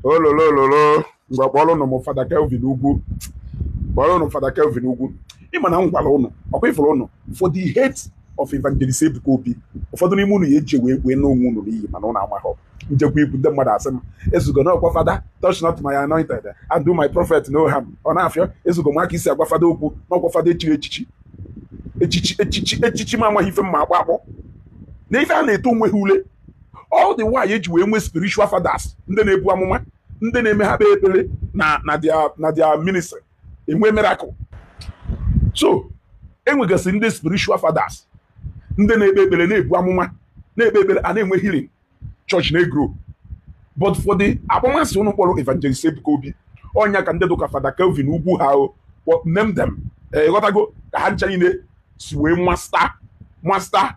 ololololo ngwa kpọrọnụ m fada kelvin ugwu kpọrọnụ fada kelvin ugwu ịma na m gwara ụnụ ọkwa ifuru ụnụ for the hate of evangelist ebuka obi ụfọdụ n'ime ụnụ ya eji wee wee naa onwe ụnụ n'iyi mana ụnụ amaghọ m jekwa ikwu ndị mmadụ asị m ezugo na ọkwa fada touch not my anointed and do my prophet no harm ọ na-afịọ ezugo m aka isi agwa fada okwu na ọkwa fada e chiri echichi echichi echichi echichi m amaghị ife mma akpọ akpọ na ife a na-eto onwe ha ule all the while eji wee nwee spiritual fathers ndị na-ebu amụma ndị na-eme ha kpee ekpere na na their na their ministry enwe miracle so enwegasị ndị spiritual fathers ndị na-ekpe ekpere na-ebu amụma na-ekpe ekpere a na-enwe healing church na-egro but for the akpọmasị ụnụ kpọrọ evangelist Ebuka Obi ọ nya ka ndị dụka fada Kelvin ugwu ha o kpọ- name them ịghọtago ka ha ncha niile si wee masta masta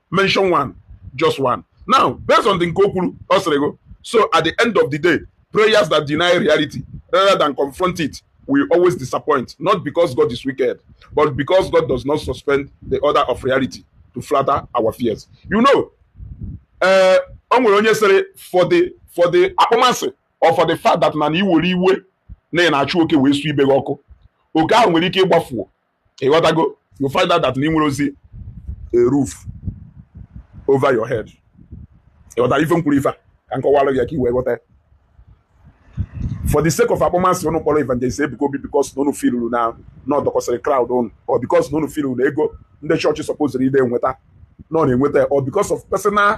mention one just one now based on the nke o kwuru ọ sịrị gị so at the end of the day prayers that deny reality rather than confront it will always disappoint not because God is wicked but because God does not suspend the order of reality to flatter our fears you know uh, o nwere onye sịrị for the for the akpọmasị or for the fact that na na iwere iwe na ị na-achụ oke wee su ibe gị ọkụ oke ahụ nwere ike gbafuo ịghọtago you find out that na ị nwerozi a roof over your head ịghọta ife m kwuru ife a ka m kọwara gị ya ka i wee ghọta ya for the sake of akpọmasị ụnụ kpọrọ evangelist Ebuka Obi because na ụnụ filuru na na ọ dọkọsịrị crowd ụnụ or because na ụnụ filuru na ego ndị chọọchị sọpoziri ịdị enweta na ọ na-enweta ya or because of personal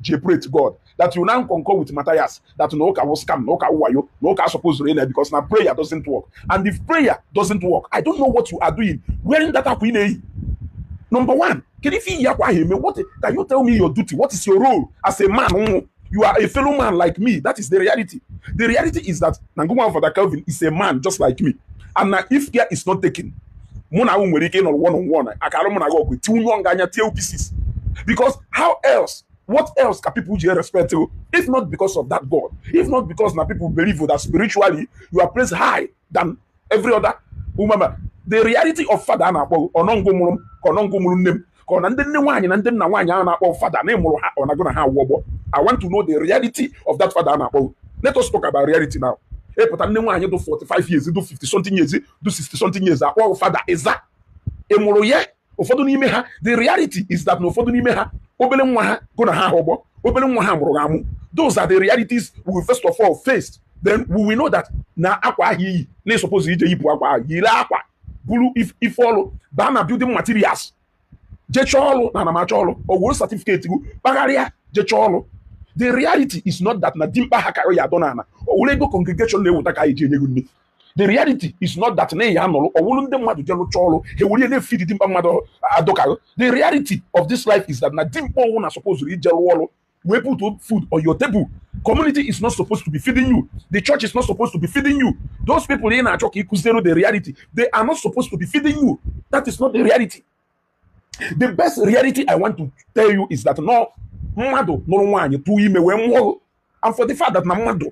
ji pray to God that you now concur with Matthias that na ụka wụ scam na ụka wụ wayo na ụka supposed to because na prayer doesn't work and if prayer doesn't work I don't know what you are doing wearing that akwa ị na-eyi number one kedu ife i yi akwa ahụ eme what can you tell me your duty what is your role as a man ị wụ you are a fellow man like me that is the reality the reality is that na ngụnwa Father Kelvin is a man just like me and na if care is not taken mụ na nwere ike ịnọrọ one on one aka a lụọ mụ na gị ọgụ tiwunye ọnga anya tie pieces because how else what else ka people ji respect you if not because of that god if not because na people believe that spiritually you are placed high than every other human the reality of father a na-akpọ ọ na ngụ mụrụ m ka ọ na ngụ mụrụ nne m ka ọ na ndị nne nwaanyị na ndị nna nwaanyị a na-akpọ fada na ị mụrụ ha ọ na ngụ na ha wụ ọgbọ i want to know the reality of that father a na-akpọ let us talk about reality now ị pụta nne nwaanyị dụ 45 years dụ 50 something years dụ 60 something years akpọ fada ị za ị mụrụ ya ụfọdụ n'ime ha the reality is that na ụfọdụ n'ime ha obele nwa ha gụ na ha ha ọgbọ obele nwa ha mụrụ gụ amụ those are the realities we will first of all face then we will know that na akwa ahụ i yi na i supposed ije yipụ akwa ahụ yiri akwa buru ife ọrụ baa na building materials je chọọ ọrụ na ana m achọ ọrụ o wuru certificate gụ kpagharịa je chọọ ọrụ the reality is not that na dimkpa ha ka gị ya-adọ n'ala e were ego congregation na-eweta ka anyị ji enye gị nni the reality is not that na ị ya-anọrọ ọ wụrụ ndị mmadụ je lụchaa ọrụ ha e were na-efeed dimkpa mmadụ dụ ka gị the reality of this life is that na dimkpa ọ wụna supposed ije lụọ ọrụ wee put food on your table community is not supposed to be feeding you the church is not supposed to be feeding you those people ị na-achọ ka ị kụziere the reality they are not supposed to be feeding you that is not the reality the best reality i want to tell you is that na mmadụ nụrụ nwaanyị tụọ ime wee mụọ and for the fact that na mmadụ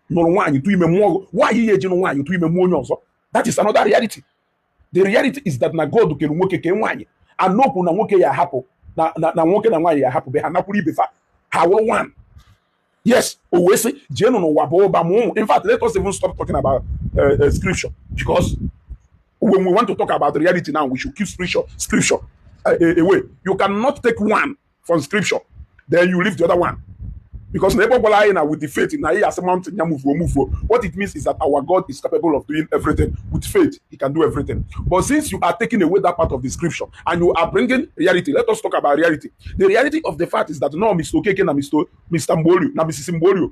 nụrụ nwaanyị tụ ime mụọ gị ị ya-eje nụọ nwaanyị tụ ime mụọ onye ọzọ that is another reality the reality is that na God kere nwoke kee nwaanyị and kwuo na nwoke ya-ahapụ na nwoke na nwaanyị ya-ahapụ be ha nakwuru ibe fa ha wụrụ nwaanyị yes o wee sị jeenụ n'ụwa baa ụba mụọ ụmụ in fact let us even stop talking about uh, uh, scripture because when we want to talk about reality now we should keep scripture scripture uh, away you cannot take one from scripture then you leave the other one because na ebe ọ gwara anyị na with the faith na ị ya-asị mountain ya move o move what it means is that our God is capable of doing everything with faith he can do everything but since you are taking away that part of the scripture and you are bringing reality let us talk about reality the reality of the fact is that na Mr. Okeke na Mr. Mr. Mgbolie na Mrs. Mgbolie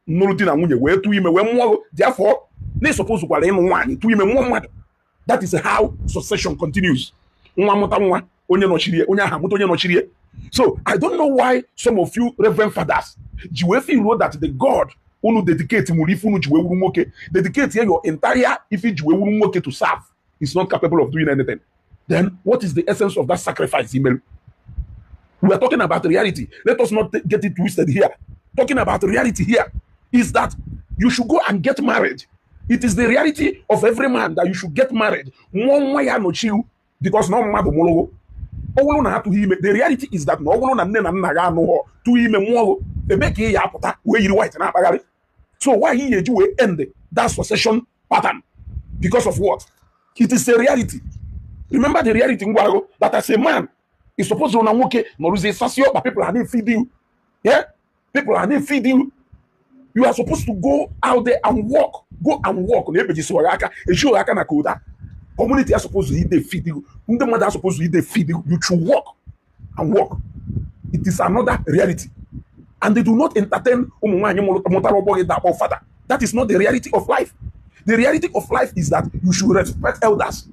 nụrụ di na nwunye wee tụọ ime wee mụọ therefore na i supposekwara ịnụ nwaanyị tụọ ime mụọ mmadụ that is how succession continues nwa mụta nwa onye nọchiri onye ahụ amụta onye nọchiri ya so i don't know why some of you reverend fathers ji wee feel na that the god unu dedicate were ife unu ji wee wụrụ nwoke dedicate ya your entire ife i ji wee wụrụ nwoke to serve is not capable of doing anything then what is the essence of that sacrifice i melu we are talking about reality let us not get it twisted here talking about reality here is that you should go and get married it is the reality of every man that you should get married mụọ nwa ya-anọchi gụ because na mmadụ mụrụ gụ ọ wụrụ na atụghị ime the reality is that na ọ wụrụ na nne na nna gị anụghọ tụọ ime mụọ gụ ebee ka ị ya-apụta wee yiri white na-akpagharị so why ị ya-eji wee end that succession pattern because of what it is a reality remember the reality m gwara gụ that as a man is supposed na nwoke nọrọzie sasaa ọkpa people a na-efeed ya people are not feeding you you are supposed to go out there and work go and work na ebejisiwa gị aka ejighị aka na koda community are supposed to eat the feed you ndị mmadụ are supposed to eat the feed you you should work and work it is another reality and they do not entertain ụmụ nwaanyị mụtara ọgbọ gị ịdị akpọ fada that is not the reality of life the reality of life is that you should respect elders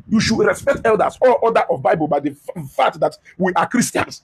you should respect elders or order of bible by the fact that we are christians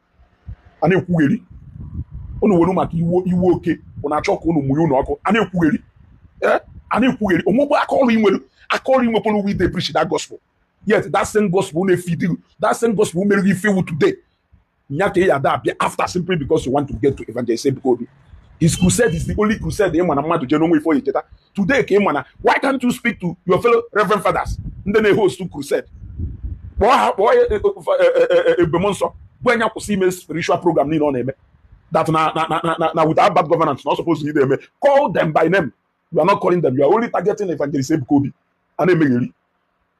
a na-ekwugheri unu were maka iwe iwe oke bụ na-achọ ka unu mụnye ụnọ ọkụ a na-ekwugheri eh? a na-ekwugheri onwegbe aka ọrụ i nwere aka ọrụ inwekwara uwe ide preach that gospel yet that same gospel na-efeedi that same gospel mere gị ife ị wụ today nya ka ya da abịa after simply because you want to get to evangelist Ebuka Obi his crusade is the only crusade ị ma na mmadụ jee na o nwe ife ọ ya-echeta today ka ị ma na why can't you speak to your fellow reverend fathers ndị na-ehost crusade kpọọ ha kpọọ ya eh, eh, eh, Ebube Mụọnsọ gwa ya nya kwụsị ime spiritual program niile ọ na-eme that na na na na na without bad governance na ọ suppose ị na-eme call them by name you are not calling them you are only targeting evangelist Ebuka Obi a na-emegheri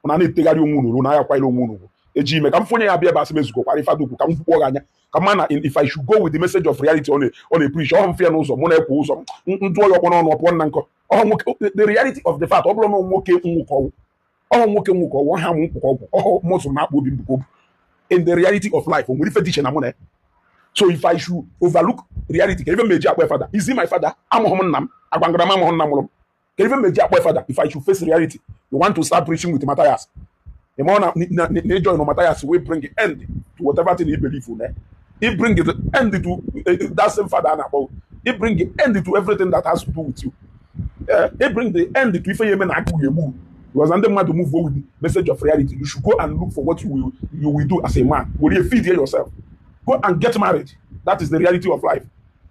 unu na-etegharị onwe unu na ayakwanyere onwe unu ugwu eji ime ka m fụnye ya bịa ebe asị m ezugokwara ife adukwu ka m kwukpọ gị anya ka ma na if I should go with the message of reality ọ na-epreach ọhụ mfe ya n'ụzọ mụ na-ekwe ụzọ ndụ ọya ọkpọ n'ọnụ ọpụọ nna nkọ ọhụ nwoke the reality of the fact ọ bụrụ na nwoke nwụkọ ọgwụ ọhụ nwoke nwụkọ ọgwụ ha m nkwụkọ ọgwụ ọhụ mụsụ na akpụ obi mbụkọ obu in the reality of life o nwere ife dị iche na mụ na ya so if I should overlook reality ka ife m eji akpọ fada is he my fada amụghị m nna m agwa ngarama amụghị nna mụrụ m ka ife meji akpọ fada if i should face reality you want to start preaching with Matthias ị ma na ịjoin Matthias wey bring end to whatever thing you believe in eh? he bring the end to uh, that same father and above he bring the end to everything that has to do with you uh, he bring the end to ife yeme na akụ egbu because ndị mmadụ move on with the message of reality you should go and look for what you will, you will do as a man were you feed yourself go and get married that is the reality of life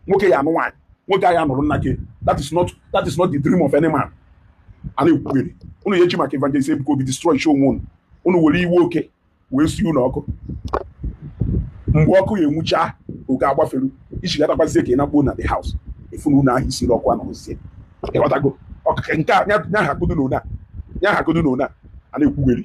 nwoke ya anụ nwaanyị nwoke ahụ anụrụ nna gị that is not that is not the dream of any man a na-ekwugheri unu ya eji maka evangelist Ebuka Obi destroychaa onwe unu unu were iwe oke wee sie ụnọ ọkụ mgbe ọkụ ya enwucha oke agbafere ị chighatakwazie ka ị nakpuo na the house ị fụ na ụnọ ahụ i siri ọkụ anọzie ịghọtago nke a nya ha kodo na ụna nya ha kodo na ụna a na-ekwugheri